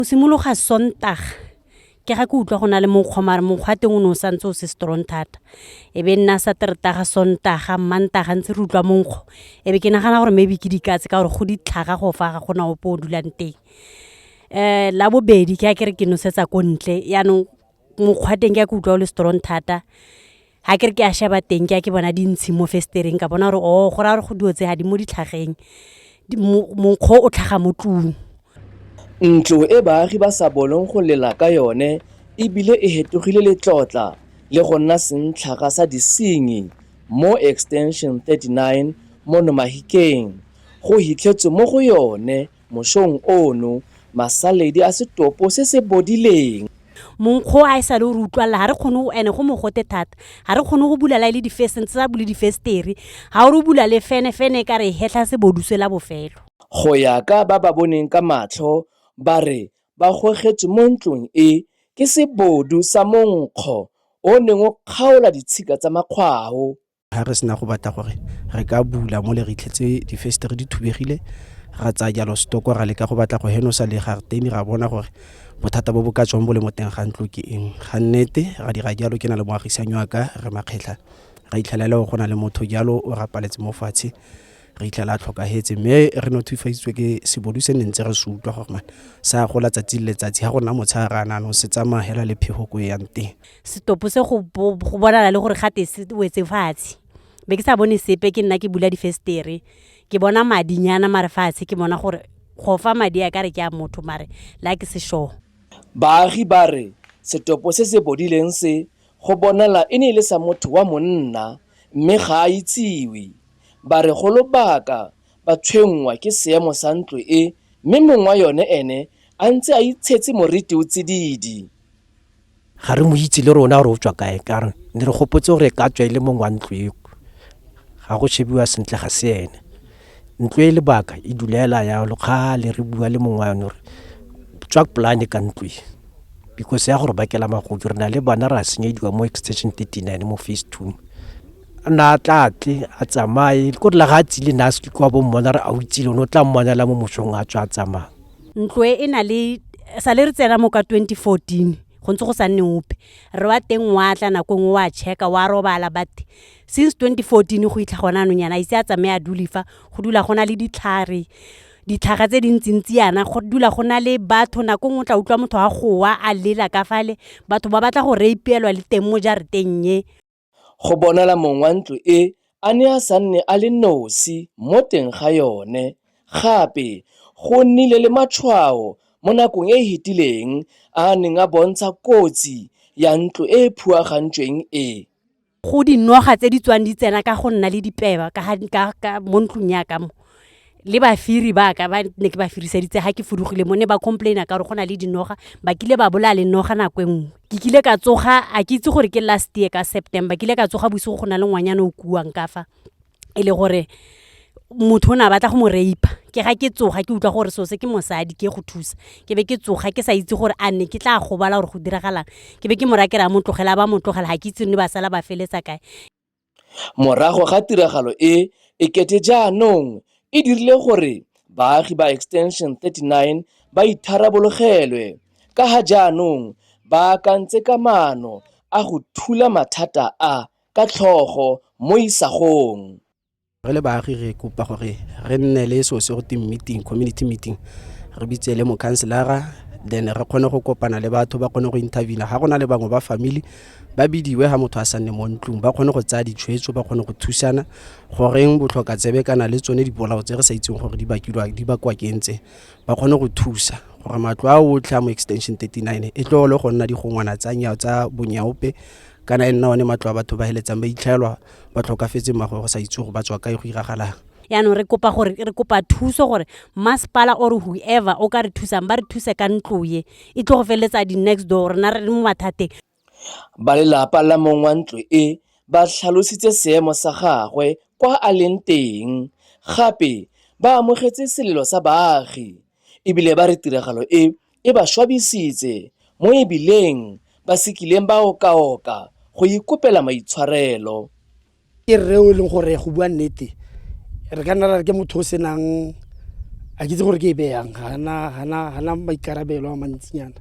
Go simologa Sontaga ke ga ke utlwa go na le monkgwa mare monkgwa teng o ne o santse o se strong thata e be nna sa teretaga sontaga mmantaga ntse re utlwa monkgo e be ke nagana gore maybe ke dikatse ka gore go ditlhaga go fa ga gona ope o dulang teng um la bobedi ke a kere ke nosetsa ko ntle yaanong mokgwa teng ke ya ke utlwa o le strong thata ga ke re ke a sheba teng ke a ke bona dintshi mo festereng ka bona gore o oh, go raya gore go dio tse ga di mo ditlhageng monkgo o tlhaga mo tlung ntlo e baagi ba sa bolong go lela ka yone ebile e hetogile letlotla le go nna sentlhaga sa disenyi mo extension 39 mo nomahikeng go hitlhetswe mo go yone Mosong ono, masaledi a setopo se se bodileng. Monkgo a e sale o re utlwalela, ga re kgone go, ene go mogote thata, ga re kgone go bula la e le difesene, tse a bule difestere, ga o re o bula le fene, fene e ka re e hetlha sebodu se la bofelo. Go ya ka ba ba boneng ka matlho, ba re ba gogetswe mo ntlong e ke sebodu sa monkgo o o neng o kgaola ditshika tsa makgwao. ga re sena go batla gore re ka bula mo le re itlhetse difestere di thubegile ra tsaya jalo stoko ra leka go batla go henosa le garteni ra bona gore bothata bo bo ka tswang bo le mo teng ga ntlo ke eng ga nnete ra dira jalo ke na le moagisanyo wa ka re makgetlha ra itlhelela go na le motho jalo o rapaletse mo fatshe re itlhela a tlhokagetse mme re nothifaditswe ke sebodu se ne ntse re se utlwa gore mane sa gola tsatsi le letsatsi ga go nna motshegare a nano se tsamaya hela le phego ko e yang teng Setopo se go bo- go bonala le gore gate se wetse fatshe. Be ke sa bone sepe ke nna ke bula difestere. Ke bona madinyana mare fatshe ke bona gore go fa madi a ka re ke a motho mare la ke se sure. Baagi ba re setopo se se bodileng se go bonala e ne e le sa motho wa monna mme ga a itsiwe. Ba re go lobaka ba tshwenngwa ke seemo sa ntlo e mme mong wa yone ene a ntse a itshetse moriti o tsididi. ga re mo itse le rona gore o tswa kae ka re ne re gopotse gore ka tswa e le mongwe wa ntlo eo ga go shebiwa sentle ga se ene ntlo e lebaka e dulela ya lokgale re bua le mongwe wa yone gore tswa polane ka ntlo e because ya gore bakela magodi re na le bana re a senyediwa mo extension 39 mo face two a na a tlatle a tsamaye ko re la ga a tsile na se kwa bo mmona re a o itsile o ne o tla mmonela mo mosong a tswa a tsamaya Ntlo e e na le sa le re tsena mo ka 2014 go ntse go sa nne ope re wa teng wa tla nako e nngwe wa checka wa robala but since 2014 go itlha gona anong yana a ise a tsamaye a dule fa go dula go na le ditlhare ditlhaga tse dintsintsi yana go dula go na le batho nako e nngwe o tla utlwa motho wa gowa a lela ka fale batho ba batla go rape-elwa le teng mo jarateng e Go bonala mong wa ntlo e a ne a sa nne a le nosi mo teng ga yone. Gape, go nnile le matshwao mo nakong e e fetileng a a neng a bontsha kotsi ya ntlo e e phuagantsweng e. Go dinoga tse di tswang di tsena ka go nna le dipeba ka mo ntlong ya ka mo, le bafiri ba ka ba ne ke ba firiseditse ga ke fudugile mo ne ba complaina ka gore go na le dinoga ba kile ba bolaya le noga nako e nngwe ke kile ka tsoga a ke itse gore ke last year ka september kile ka tsoga bosigo go na le ngwanyana o kuang ka fa e le gore motho o ne a batla go mo rape ke ga ke tsoga ke utlwa gore sose ke mosadi ke go thusa ke be ke tsoga ke sa itse gore a ne ke tla gobala gore go diragalang ke be ke mo rakera mo tlogela ba mo tlogela ga ke itse ne ba sala ba feletsa kae Morago ga tiragalo e, ekete jaanong e dirile gore baagi ba Extension 39 ba itharabologelwe ka ga jaanong ba akantse ka maano a go thula mathata a ka tlhogo mo isagong. re le baagi re kopa gore re nne le so se go te meeting community meeting re bitse le mokhanselara then re kgone go kopana le batho ba kgone go intervena ga go na le bangwe ba family ba bidiwe ga motho a sa nne mo ntlong ba kgone go tsaya ditshwetso ba kgone go thusana goreng botlhoka tsebe kana le tsone dipolao tse re sa itseng gore di bakilwa di bakwa ke ntse ba kgone go thusa gore matlo a otlhe a mo extension 39 e tlo le go nna digongwana tsa nyao tsa bonyaope kana e nna one matlo a batho ba heletsang ba itlhaelwa ba tlhokafetse mmago go sa itse gore ba tswa kae go iragalang yaanong re kopa gore re kopa thuso gore masepala or whoever o ka re thusang ba re thuse ka ntlo ye e tlo go feleletsa di-next door rena re le mo mathateng ba lelapa la mong wa ntlo e ba tlhalositse seemo sa gagwe kwa a leng teng gape ba amogetse selelo sa baagi ebile ba re tiragalo e e ba swabisitse mo e bileng ba se kileng ba okaoka go ikopela maitshwarelo. Ke rre o e leng gore go bua nnete re ka nna ra re ke motho o senang a ke itse gore ke e beyang gana maikarabelo a mantsinyana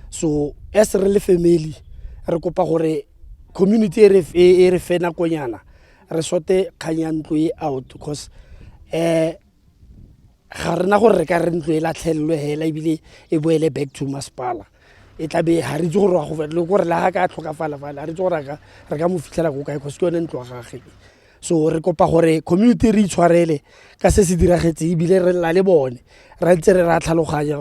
so as re le family re kopa gore community e re e re fe nakonyana re sote kgang ya ntlo e out because um ga rena gore re ka re ntlo e latlhelelwe hela ebile e boele back to masepala e tlabe ga re itse gore go le gore le ga ka tlhokafala fale ga re itse gore re ka mo fitlhela ko kae cause ke yone ntlo ya gage so re kopa gore community re itshwarele ka se se diragetseng ebile re lela le bone ra ntse re ra tlhaloganya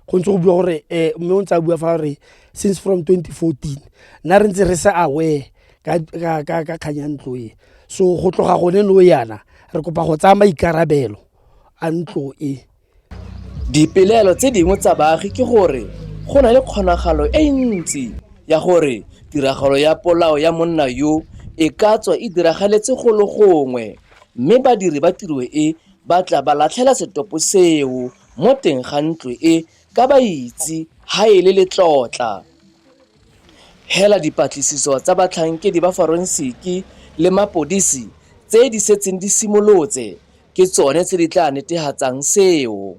go ntse go bua gore um mme o ntse a bua fa gore since from 2014 nna re ntse re se aware ka kgang ya ntlo e so go tloga gone no yana re kopa go tsaya maikarabelo a ntlo e. Dipelaelo tse dingwe tsa baagi ke gore go na le kgonagalo e ntsi ya gore tiragalo ya polao ya monna yo e ka tswa e diragaletse golo gongwe mme badiri ba tiro e ba tla ba latlhela setopo seo mo teng ga ntlo e ka ba itse ha e le letlotla. Hela dipatlisiso tsa batlhankedi ba forensiki le mapodisi tse di setseng di simolotse ke tsone tse di tla netehatsang seo.